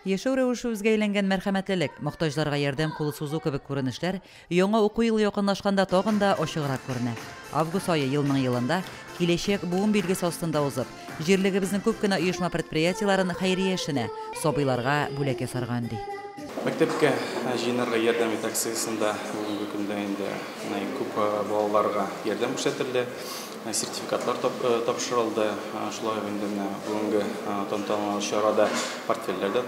Яшәү рәвеше үзгә әйләнгән мәрхәмәтлелек, мохтаҗларга ярдәм кулы сузу кебек күренешләр яңа уку елы якынлашканда тагын да ачыграк күренә. Август ае елның-елында Киләчәк буын билгесе астында узып, җирлегебезнең күп кенә оешма-предприятиеләрен хәйрия эшенә, сабыйларга бүләк ясарга өнди. Мәктәпкә җыенырга ярдәм ит акциясендә бүгенге көндә инде күп балаларга ярдәм күрсәтелде. Сертификатлар тапшырылды. Шулай ук инде менә бүгенге тантаналы чарада портфельләр дә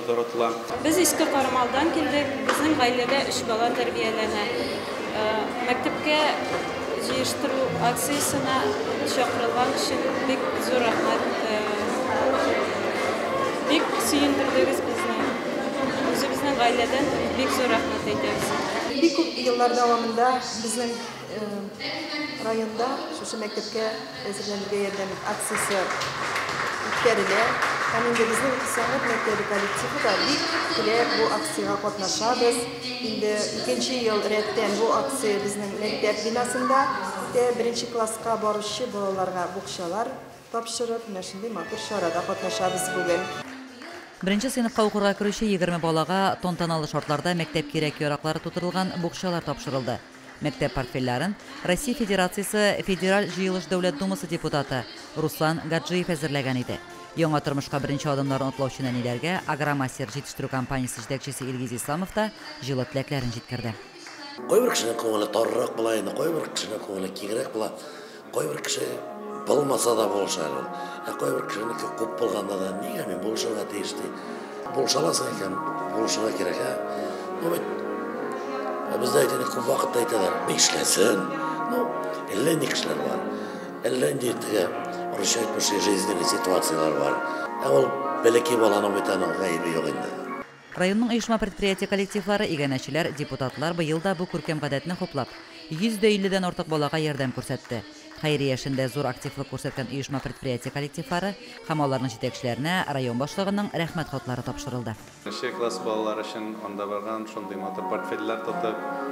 таратыла. Без Иске Кармалдан килдек. Безнең гаиләдә өч бала тәрбияләнә. Мәктәпкә җыештыру акциясенә чакырылган өчен бик зур рәхмәт. Бик сөендердегез безне. Үзебезнең гаиләдән бик зур рәхмәт әйтәбез. Бик күп еллар дәвамында безнең. Районда шушы мәктәпкә әзерләнергә ярдәм ит акциясе үткәрелә. Һәм инде безнең сәнгать мәктәбе коллективы да бик теләп бу акциягә катнашабыз. Инде икенче ел рәттән бу акция безнең мәктәп бинасында үтә. Беренче класска баручы балаларга букчалар тапшырып, менә шундый матур чарада катнашабыз бүген. Беренче сыйныфка укырга керүче егерме балага тантаналы шартларда мәктәп кирәк-яраклары тутырылган букчалар тапшырылды. Мәктәп портфельләрен Россия Федерациясе Федераль җыелыш Дәүләт Думасы депутаты Руслан Гаджиев әзерләгән иде. Яңа тормышка беренче адымнарын атлаучы нәниләргә Агромастер җитештерү компаниясе җитәкчесе Илгиз Исламов та җылы теләкләрен җиткерде. Кайбер кешенең күңеле тарырак була инде, кайбер кешенең күңеле киңрәк була. Кайбер кеше булмаса да булышар ул. Ә кайбер кешенеке күп булганда да нигә мин булышырга тиеш ди. Булышаласың икән, булышырга кирәк. Ә? Ну, бит, ә бездә әйтәләр, күп вакытта әйтәләр, нишләсен? Ну, әллә ни кешеләр бар. Әллә нинди теге русча әйтмешли жизненный ситуацияләр бар. Ә ул бәләкәй баланың бит аның гаебе юк инде. Районның оешма-предприятие коллективлары, иганәчеләр, депутатлар быел да бу күркәм гадәтне хуплап, 150 дән артык балага ярдәм күрсәтте. Хәйрия эшендә зур активлык күрсәткән оешма-предприятие коллективлары һәм аларның җитәкчеләренә район башлыгының Рәхмәт хатлары тапшырылды. Нче класс балалары өчен анда барган, шундый матур портфельләр тотып.